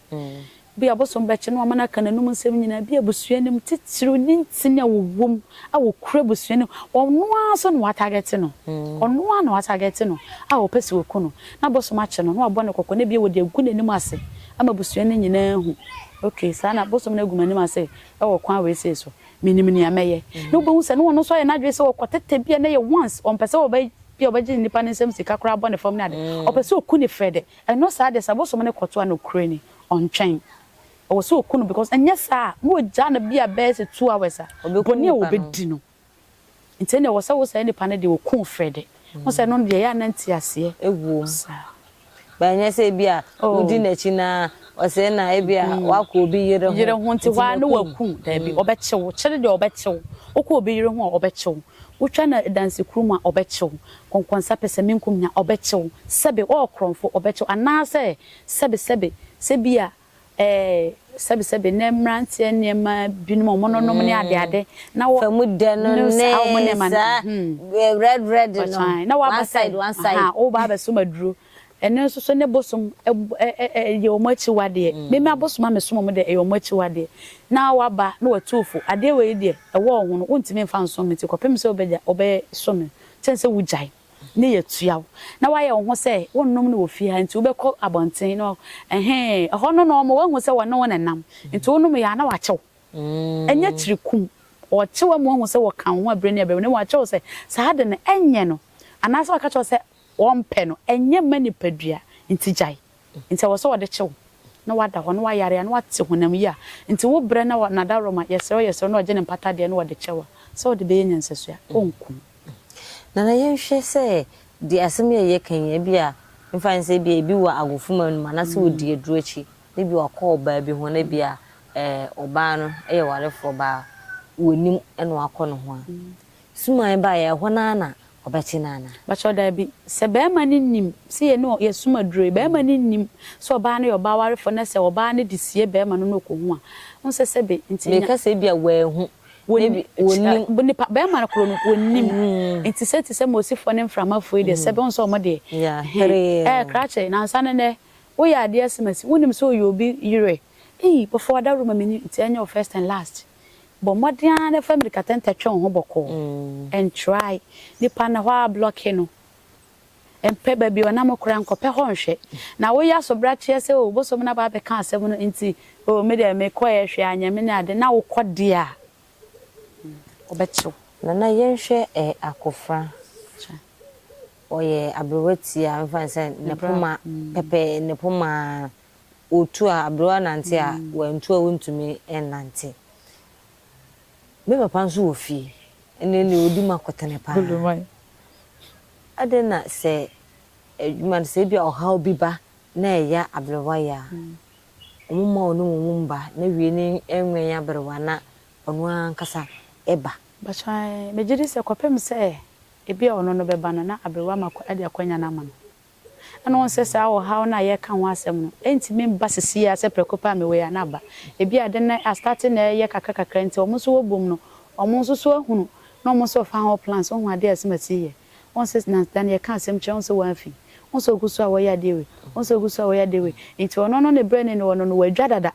Bi a ɔbosom bɛkye no ama no aka n'anom nsɛm nyinaa, bi a abusua no mu titiriw ne ntini a wɔwom a wɔkura abusua no mu, ɔno ara nso na wɔatargɛte no, ɔno ara na wɔatargɛte no a wɔpɛ sɛ wɔku no, na abosom akye no, na wɔabɔ no kɔkɔ, na ebia wɔde agu n'anim ase ama abusua no nyinaa ahu, Okay, saa na abosom no agu m'anim ase wɔ ɔkwan wei sei so, menim nea mɛyɛ. Na wubehu sɛ na ɔno nso ayɛ n'adwene sɛ ɔkɔtetɛ bi a na ɛyɛ once, ɔmpɛ sɛ ɔbɛ, bi a ɔbɛgye nnipa no nsam sika koraa abɔ no fam ne ade, ɔpɛ sɛ oku no frɛ dɛ. Ɛno saa deɛ sɛ abosom no kɔto a nokorɛ ni ɔntwɛn ɛwɔ sɛ ɔku no because ɛnyɛ saa a na ɔgyaa no bia bɛyɛ sɛ two hours a bɔne a ɔbɛdi no nti ɛnna ɛwɔ sɛ wo saa nipa no deɛ ɔku wo frɛ dɛ wohu sɛ ɛno deɛ ɛyɛ a na nteaseɛ ɛwom saa. But ɛnyɛ sɛ bia wodi no akyi na ɔsɛe na bia wakɔ obi yere ho yere ho nti hɔ a na waku wo daabi ɔbɛkye wo kyere deɛ ɔbɛkye wo wokɔ obi yere ho a ɔbɛkye wo Wotwa no adansi kuro mu a, ɔbɛkye wo. Kɔnkɔnsa pɛsɛmenkum nya a, ɔbɛkye wo. Sɛbe woyɛ korɔmfo, ɔbɛkye wo. Anaasɛ sɛbe sɛbe sɛ ebia ɛɛ sɛbe sɛbe nnɛ mmeranteɛ nneɛma binom a wɔnonom ne adeade na wɔ Famu dɛ no ne ne saa wɔn nneɛma no saa hmm red red no, ɔkyan na one waba side sɛ one side. ahaa woba abɛsom aduro Ɛno nso so ne bosom yɛ wɔn akyiwadeɛ. Me me abosom a mesom wɔn deɛ, ɛyɛ wɔn akyiwadeɛ. Na woaba na watu wo fo, adeɛ wei deɛ, ɛwɔ wo ho no, wontumi mfa nsom me nti kɔpem sɛ wobɛsom me no, kyɛn sɛ wogyae na yɛatua wo. Na woayɛ wo ho sɛ wonnom no wɔ fie ha nti wobɛkɔ abɔnten na ɛhee, ɛhɔ no na wɔma woahu sɛ wɔne wo na ɛnam, nti wonomeeɛ a na wɔakyɛ wo. Ɛnyɛ tiri kum. Wɔkye wo ama woahu sɛ wɔka wo ho abire ne abire, na mmom wɔakyɛ wo sɛ saa ade no, ɛnyɛ no. Anaasɛ wɔaka kyerɛ wo sɛ Wɔmpɛ no, ɛnyɛ mma nipadua nti gyae, nti ɛwɔ sɛ wɔde kye wo na woada hɔ na woayare a na woate honam yi a nti wo brɛ na Nadawroma yɛsrɛ wo yɛsrɛ wo na wɔgye ne mpata deɛ na wɔde kyɛ wo a sɛ wode bɛyɛ nyansasoa ɔnku wo. Nana yɛnhwɛ sɛ deɛ asɛm yi a yɛka yi ebia mfa ne sɛ ebia ebi wɔ agofuma no mu anaasɛ ɔdi aduro akyi na ebia wakɔ ɔbaa bi ho na ebia ɔbaa no yɛ warefoɔ baa wɔnim na wakɔ ne ho a. Suman ba yɛ ɛhɔ no ara na ɔbɛte no anaa? Mpakyɛw dabi. Sɛ barima no nnim, sɛ yɛne wɔn, yɛsom aduro yi, barima no nnim sɛ ɔbaa no yɛ ɔbaa warefoɔ na sɛ ɔbaa no de sie barima no na ɔkɔhu a, wohu sɛ sɛbe nti nya. Meka sɛ ebia wanhu, na ebi, ɔnnim. Wɔn, nipa, barima no koro no, ɔnnim. Nti sɛ te sɛ Mosifoɔ ne Mframafoɔ yi deɛ, sɛbe wohu sɛ wɔn deɛ, ɛhe, ɛɛ, krakye, nansa no nnɛ, woyɛ adeɛ asimasi, wonnim sɛ ɔyɛ obi yere, ei, wɔfa w'adaworo ma menni, nti ɛnyɛ wo first and last. Bɔ mmɔden ara na fa mmirikatɛntɛ twe wo ho bɔkɔɔ. Ntrae. Nnipa no hɔ ara blɔke no. Mpɛ baabi a ɔnam koraa, nkɔpɛ hɔ nhwɛ. Na woyɛ asobrakyeɛ sɛ, Oo, bosom no aba abɛka asɛm no nti, oo, me deɛ mekɔeɛ hwee anyɛ me ne adeɛ, na wokɔ deɛ a, wɔbɛkye wo. Nana yɛnhwɛ Akofra. Ɔyɛ aberewa tiaa, mfa no sɛ ne poma pɛpɛɛ, ne poma otu a aberewa nante a wantu a ontumi nnante. Me papa nso wɔ fie ɛnɛ deɛ odi mu akotene paa. Adɛn na sɛ adwuma no sɛ ebi a ɔhaw bi ba na ɛya aberewa yɛ a wɔn mma ɔne wɔn mu mma na wie no ɛnwɛn aberewa na ɔno ankasa ɛba. Mpakyɛw ɛɛ megye di sɛ kɔpem sɛ ebi a ɔno no bɛba no na aberewa ma de akwanya no ama no. Ɛna wohu sɛ saa ɔhaw no a yɛreka ho asɛm no, ɛrentumi mba sisi ara sɛ prɛko pɛ a mewɔ yi a, na aba. Ebi a ade no astate na ɛreyɛ kakra kakra nti, wɔn nso wɔbom no, wɔn nso so ahunu na wɔn nso wɔfa ho plans, wohu ade a Asimatsi reyɛ. Wohu sɛ na da no yɛka asɛm kyerɛ, wohu sɛ wɔamfi. Wohu sɛ ɔgu so a wɔreyɛ adeɛ wei, wohu sɛ ɔgu so a wɔreyɛ adeɛ wei. Nti ɔno no ne berɛ ne ne ɔno no, wɔadwa dada.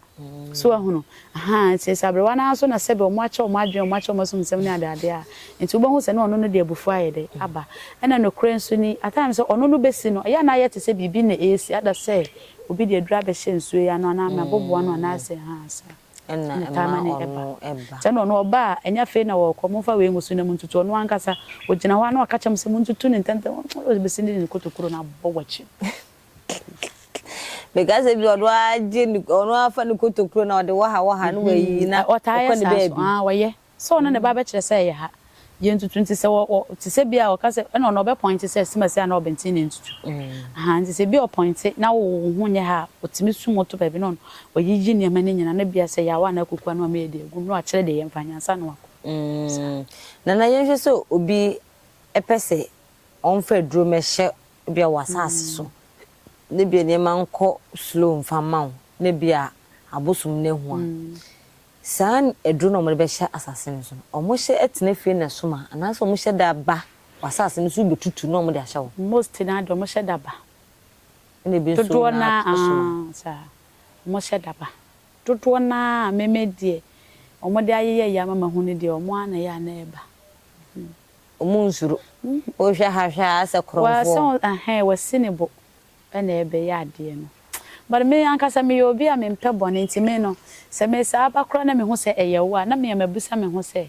So wahunu? Ahaa, nti sɛ aberewa no ara so na sɛbe wɔakyɛ wɔn adwene, wɔakyɛ wɔn asumsɛm ne adeade a, nti wobɛhu sɛ na ɔno no de abufuo ayɛ dɛ? aba. Ɛna nokorɛ nso ni, at times sɛ ɔno no bɛsi no, ɛyɛ a na ayɛ te sɛ biribi na ɛresi, ada sɛ obi de aduru abɛhyɛ nsuo yi ano anaa mɛboboa no anaasɛ ahaa saa na ɛtaa ma no ɛba. Sɛ na ɔno ɔba a, ɛnyɛ afei na wɔrekɔ, momfa wei ngu so na montutu, ɔno ankasa, ɔgyina hɔ a na waka kyerɛ mo sɛ montutu no ntɛmntɛm, ɔbɛsi no de ne kotokuro no abɔ w'akyi. Meka sɛ bi ɔno ara gye ne ɔno ara fa ne kotokuro na ɔde wɔ ha wɔ ha na wayiyi na Ɔtaa yɛ ɔkɔ ne saa nso. baabi. Ah, ɔyɛ. Sɛ ɔno na ɛba abɛkyerɛ sɛ ɛyɛ ha. Yɛ ntutu nti sɛ wɔ, wɔ, te sɛ bi a ɔka sɛ, ɛna ɔno ɔbɛpɔinte sɛ Simasi anaa Ɔbɛnten na ɛntutu. Ahaa, nti sɛ bi ɔpɔinte na wo, wo ho nyɛ ha a, ɔtumi sum wo to baabi na ɔno ɔyiyi nneɛma no nyinaa na bi a sɛ ɛyɛ awa anaa kukua no a mɛyɛ de agu mu na wakyerɛ deɛ yɛmfa nyɛ ansa na wakɔ. Saa. Mm, Nana yɛnhwɛ sɛ obi pɛ sɛ Ɔmfa aduro mmɛhyɛ ebia w'asaase so na ebia nneɛma nkɔ slow mfa mma wo na ebia abosom no ahu a, saa aduro no a wɔde bɛhyɛ asaase no so no, wɔhyɛ tena fie na ɛsom a anaasɛ wɔhyɛ da ba w'asaase no so wobɛtutu na wɔde ahyɛ wo? Most no ara deɛ wɔhyɛ da ba. Ɛna ebi nso Dodoɔ no na ara ɛsom a. aah saa, wɔhyɛ da ba. Dodoɔ no ara a me me deɛ wɔde ayeyɛyɛ ama mahu no deɛ wɔn ara na ɛyɛ a na ɛba. Ɔmo nsuro. Wohwɛ ha hwɛ ha asɛ korɔmfoɔ. Wa sɛ ɛhɛn wasi ne bo na ɛbɛyɛ adeɛ no but me ankasa me yɛ obi a me mpɛ bɔne nti me no sɛ me saa ba koraa na me hu sɛ ɛyɛ wo a na me a ma bisa me ho sɛ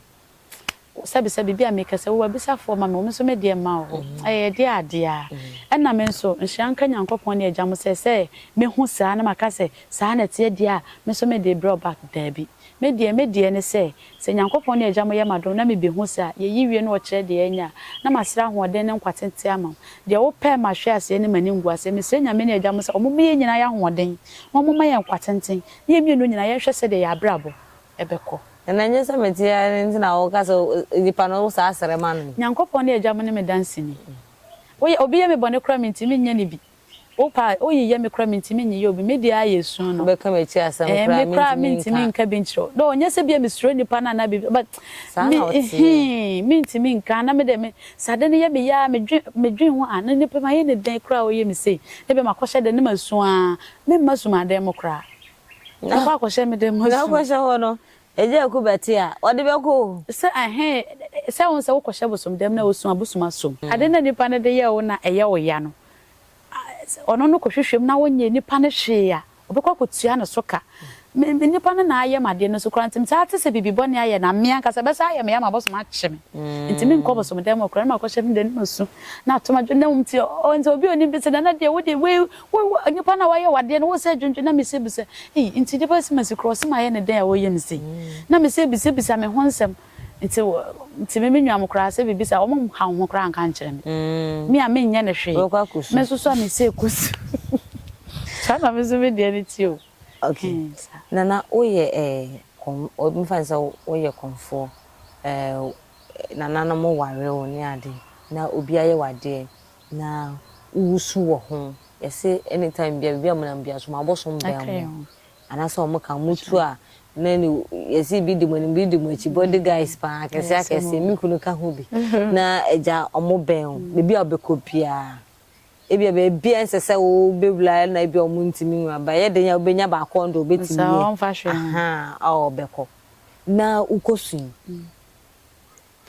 sɛbi sɛbi bi a me kɛ sɛ wo abisafoɔ ma me wo me nso me deɛ ma wo ɛyɛ deɛ adeɛ a ɛna me nso nhyira nka Nyankopɔn ne agya mo sɛ sɛ me hu saa na ma ka sɛ saa na ɛteɛ deɛ a me nso me de brɛ wo back daabi me deɛ me deɛ ne sɛ Sɛ Nyankopɔn ne Agya mo yɛ m'adom na mibehu saa, yeyi wie no ɔkyerɛ deɛ ɛnyɛ a, na masrɛ ahoɔden ne nkwa tenten ama mo. Deɛ wopɛ mahwe aseɛ ne m'animguaseɛ. Mesrɛ Nyame ne Agya mo sɛ ɔmoma yɛn nyinaa yɛ ahoɔden, na ɔmoma yɛn nkwa tenten, na yɛn mmienu nyinaa yɛnhwɛ sɛdeɛ yɛn abrabɔ bɛkɔ. Na ɛnyɛ sɛ mete ha no nti na woka sɛ nipa no wo saa srɛ ma no yi. Nyankopɔn ne Agya mo ne me danseni. Woyɛ, obi yɛ me bɔne koraa a minti menyɛ no bi. Wo paa a, woyeyɛ me koraa mentumi nyeyɛ obi, me deɛ ara yɛ su no. Wobɛka m'akyi asɛm Eh, koraa me koraa mentumi mentumi nka. nka bi nkyerɛ wo. Though ɔnyɛ sɛ bi a mesuro nnipa no anaa biribi but Saa me na woteɛ. hee, mentumi nka na me deɛ me, sɛ ade no yɛ me ya a, medwen, medwen ho a, na nnipa mayɛ no dɛn koraa a ɔyɛ me sei. Na ebia makɔhyɛ dan no mu asu ara, memma sum adan mu koraa. Na, Makɔ akɔhyɛ me dan mu na asu. wokɔhyɛ hɔ no, Agya Aku bɛte a, ɔde bɛkɔ o. Sɛ ɛhee, sɛ wohu sɛ wokɔhyɛ bosom dan mu na wosu a, bosom asom. Ade no a nnipa no de yɛ wo no a ɛyɛ wo ya no, ɔno no kɔhwehwɛ mu na ɔnyɛɛ nipa no hwee a, ɔbɛkɔ akɔtua ne so ka. Me, me nipa no na ayɛ me adeɛ no so koraa nti metaa te sɛ biribi bɔne ayɛ no a, me ankasa ɛbɛsan ayɛ me ya ma abosom akye me. Nti menkɔ abosom dan mu hɔ koraa na makɔhyɛ me dan mu asu na ato me adwene na mmom nti ɔ, nti obi a ɔnim bi se Nana deɛ wo deɛ wei, wo, wo, nipa no a wayɛ wo adeɛ no wosɛ dwendwene na mesɛ bisa, ei, nti deɛ bɛsi masi koraa ɔse mayɛ no dɛn a ɔyɛ me sei? Na mesɛ bisabisa me ho nsɛm. Nti nti me me nua mo koraa sɛ biribi saa ɔmo nhaw ho koraa nka nkyerɛ me. Me a menyɛ no hwee. Wobɛkɔ akɔsu. Mɛsoso a mese kɔsu. Saa na me nso me deɛ no te o. Okay. Ɛɛ saa. Nana woyɛ ɛɛ kɔm mfa no sɛ woyɛ kɔmfoɔ ɛɛ nananom ware wo ne ade na obi ayɛ wo adeɛ na wosu wɔ ho yɛse anytime biara baabi a monam biara so moabɔ so mbɛn mo. Anaasɛ ɔmo ka ɔmo tu a na ne yɛse bi di mo anim bi di mo akyi body guys paa akɛseɛ akɛseɛ me kunu ka ho bi na agya ɔmo bɛn o baabi a ɔbɛkɔ biaa ebia baabi a ɛnsɛ sɛ wo bɛwura na ebia ɔmo ntumi nwu aba ɛyɛ den a wobɛnya baako ɔno deɛ ɔbɛtumi yɛ ahaa a ɔbɛkɔ na wokɔ su yi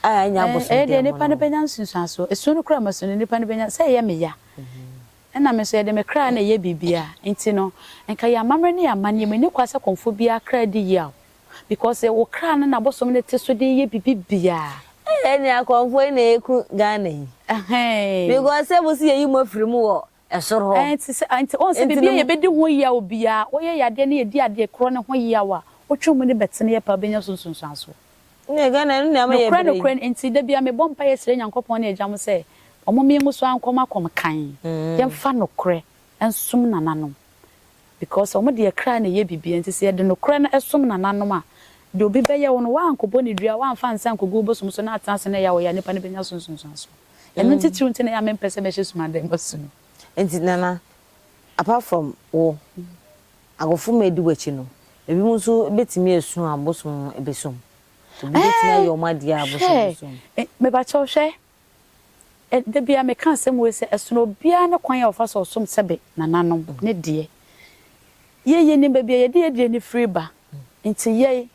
a ɛnyɛ abosomdeɛ ɛyɛ deɛ nipa no bɛnya nsunsuansoɔ esu no koraa ma su no nipa no bɛnya sɛ ɛyɛ me ya. Ɛna me nso, yɛde me kra na ɛyɛ biribiara. Enti no, nka yɛn amammerɛ ne yɛn amanneɛ mu nni kwa sɛ kɔmfo biara kra di yaw. Because wo kra no na bosom no te so de yɛ biribi biara. Ei ɛnea kɔmfoɔ yi na ɛku Ghana yi Ɛhɛn. because sɛ mo se yɛyi mo afiri mu wɔ ɛsoro hɔ Ɛnti sɛ, ɛnti wohu sɛ ɛnti biribi no a mo. yɛbɛdi ho yaw biara, woyɛ yadeɛ na yɛdi adeɛ korɔ no ho yaw a, wotwe mu no bɛteneɛ paa, wobɛnya so nsunsuansoɔ. Nokorɛ nokorɛ no enti da biara mebɔ mpaeɛ srɛ Nyankopɔn ne agya mo sɛ wɔn me nwo so ankɔ makom kann yɛmfa nokorɛ nsom nananom because wɔn deɛ kra na ɛyɛ biribiara nti sɛ yɛde nokorɛ no som nananom a deɛ obi bɛyɛ wo no woankɔbɔ no dua woamfa nsa ankɔgu wo bosom so na atena ase na ɛyɛ a ɔyɛ a nipa no bɛnya so nsunsuansoɔ ɛno ntitiriw nti na ɛyɛ a mempɛ sɛ mɛhyɛ sumadan mu asu no. Nti Nana apart from wo. Agofomma du akyi no, ebinom nso betumi asu abosom abisom. Ebi betumi ayɛ wɔn ade a abosom no som. Hwɛ! Mepakyɛw, hwɛ! Da biara meka asɛm wei sɛ, ɛsono obiara ne kwan a ɔfa so som sɛ be nananom ne deɛ. Yei, yenim baabi a yɛde yɛn aduane firi ba. Enti yɛn,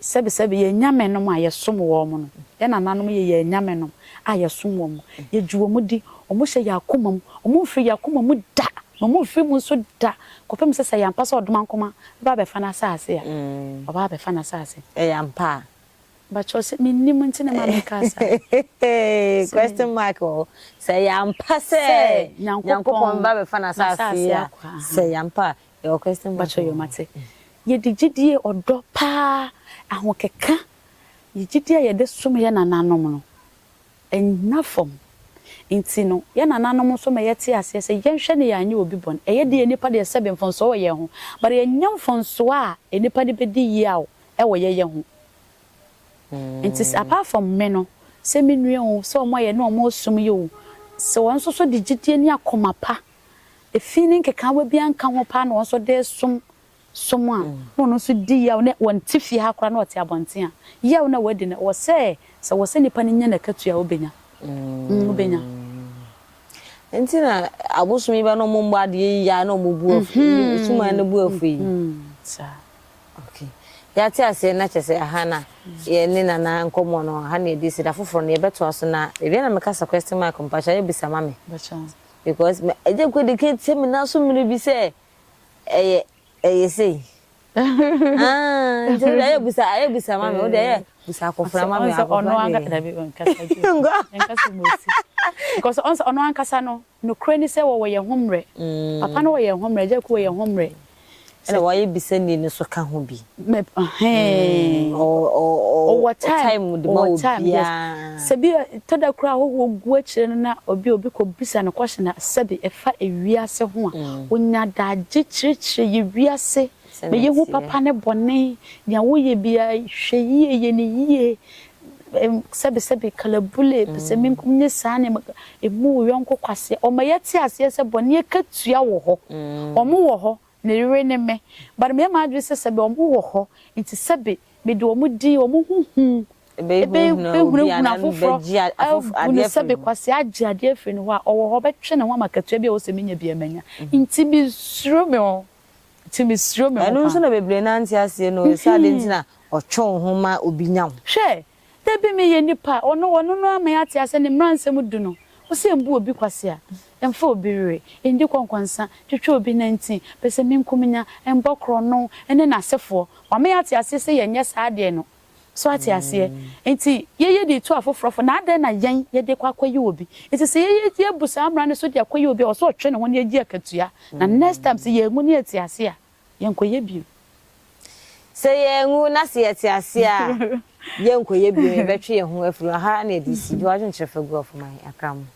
Sɛbesɛbe, yɛn anyamenom a yɛsom wɔn no, yɛn nananom yɛ yɛn anyamenom a yɛsom wɔn, yegye wɔn di, wɔhyɛ yɛn akoma mu, wɔmfiri yɛn akoma mu da, na wɔmfiri mu nso da, kɔpem sɛ, sɛ ɛyɛ ampa sɛ ɔdomankoma bɛba abɛfa n'asase a, ɔbɛba abɛfa n'asase. Ɛyɛ ampa a? Mepakyɛw, sɛ minnim nti na ɛma meka saa. Question mark wɔ hɔ. Sɛ ɛyɛ ampa sɛ Nyankopɔn bɛba abɛfa n'asase a, sɛ ɛyɛ ampa a. Yɛwɔ question box Mpakyɛw yo mate. Yɛde gyidie, ɔdɔ paa, ahokeka, yɛ gyidie a yɛde som yɛ nananom no, ɛnna fam. Nti no, yɛ nananom nso ma yɛte aseɛ sɛ yɛnhwɛ no yɛanyɛ obi bɔne. Ɛyɛ deɛ nnipa deɛ sɛbe mfomsoɔ wɔ yɛn ho, but ɛnyɛ mfomsoɔ a nnipa de bɛdi yaw wɔ yɛyɛ ho. Nti sɛ apart from me no, sɛ me nua o, sɛ wɔn a yɛne wɔn resom yi o, sɛ wɔn nso so de gyidie ne akoma pa efi ne nkekaawa biara nka ho paa na wɔn nso de resom som a, na ɔno nso di yaw na ɔnte fie ha koraa na ɔte abɔnten a, yaw no a wadi no, ɛwɔ sɛ sɛ wɔ sɛ nnipa no nya n'akatua a, obenya. Mm, obenya. Nti na abosom yi bɛ na wɔn mbɔ adeɛ yi ya na wɔn bu afu, mm-hmm. suman no bu afu yi. Mm-hmm. Saa. Okay. Yɛate aseɛ na kyɛ sɛ aha na yɛne nana nkɔmmɔ no ha na yɛde si da foforɔ no yɛbɛtoa so na baabi na mekasa question mark mpakyɛ yɛbisa ma me. Bɛkyɛ. Because me agya kɔ de ka tie me nan so mmere bi sɛ ɛyɛ ɛyɛ sei. Ah, nti wode ayɛ busa ayɛ busa ma me wode ayɛ busa akɔfra ma me akɔfra de. Dabi nkasa ju nkasa mu osi. Because ɔnsa ɔno ankasa no nokorɛ ni sɛ wɔwɔ yɛn ho mmerɛ. Mm. Papa no wɔ yɛn ho mmerɛ, agya ku wɔ yɛn ho mmerɛ. Ɛna wayɛ bisani no so ka ho bi. Mɛp hɛn. Ɔ ɔ ɔ Ɔwɔ time. time de ma Ɔwɔ time, yes. obiara. Sɛ bi a, ɛtɔ da koraa a ahɔhoɔ gu akyire no na obi a obi kɔbisa no question a sɛbe ɛfa ewiase ho a, ɔnya adagye kyerɛkyerɛ yɛ wiase, Sɛnea ma yɛhu ɛteɛ. papa ne bɔne, deɛ woyɛ biara hwɛ yie, yɛ no yie, sɛbesɛbe, kalabule, pɛsɛmenkominya, ne saa nneɛma, mmu wo yɔnko kwasea. Wɔma yɛte aseɛ sɛ bɔne akatua wɔ hɔ. Wɔwɔ hɔ, ne yere ne me. But meyɛ m'adwene sɛ sɛbe wɔwɔ hɔ nti sɛbe mede wɔn din, wɔn ho hu bɛhunahuna afoforɔ, abu no sɛbe kwasea agye adeɛ afiri ne hɔ a, ɔwɔ hɔ, ɔbɛtwe ne ho ama akatua bi a ɛwɔ sɛ menya biara manya. Nti mensuro me ho. Nti me suro me ho paa. Ɛno nso na bebree no ante aseɛ no o, sɛ adeɛ nti na ɔtwe wo ho ma obi nya wo. Hwɛ, da bi me yɛ nipa a ɔno, ɔno no ama yɛ ate aseɛ ne mmra nsɛm du no, ɔsɛ mbu obi kwasea, mfa obi were, ndi kɔnkɔnsa, twitwa obi nantin, pɛsɛminkumenya, mbɔ korɔno, ɛne n'asefoɔ, wama yɛ ate aseɛ sɛ yɛ nyɛ saa adeɛ no. So ate aseɛ? Enti yɛyɛ de retu afoforɔ fo, na adɛn na yɛn yɛde rekɔ akɔyi obi? Enti sɛ yɛyɛ eti abu saa mmara no so de akɔyi obi a, ɛwɔ sɛ ɔtwe ne ho na yɛgye akatua, na next time sɛ yɛanwu na yɛte ase a, yɛnkɔyɛ bio. Sɛ yɛanwu na sɛ yɛte ase a, yɛnkɔyɛ bio, yɛbɛtwe yɛn ho afiri hɔ. Aha na ɛde si. Gye w'adwenkyerɛ fa gu ɔfo ma yɛn, Akraman.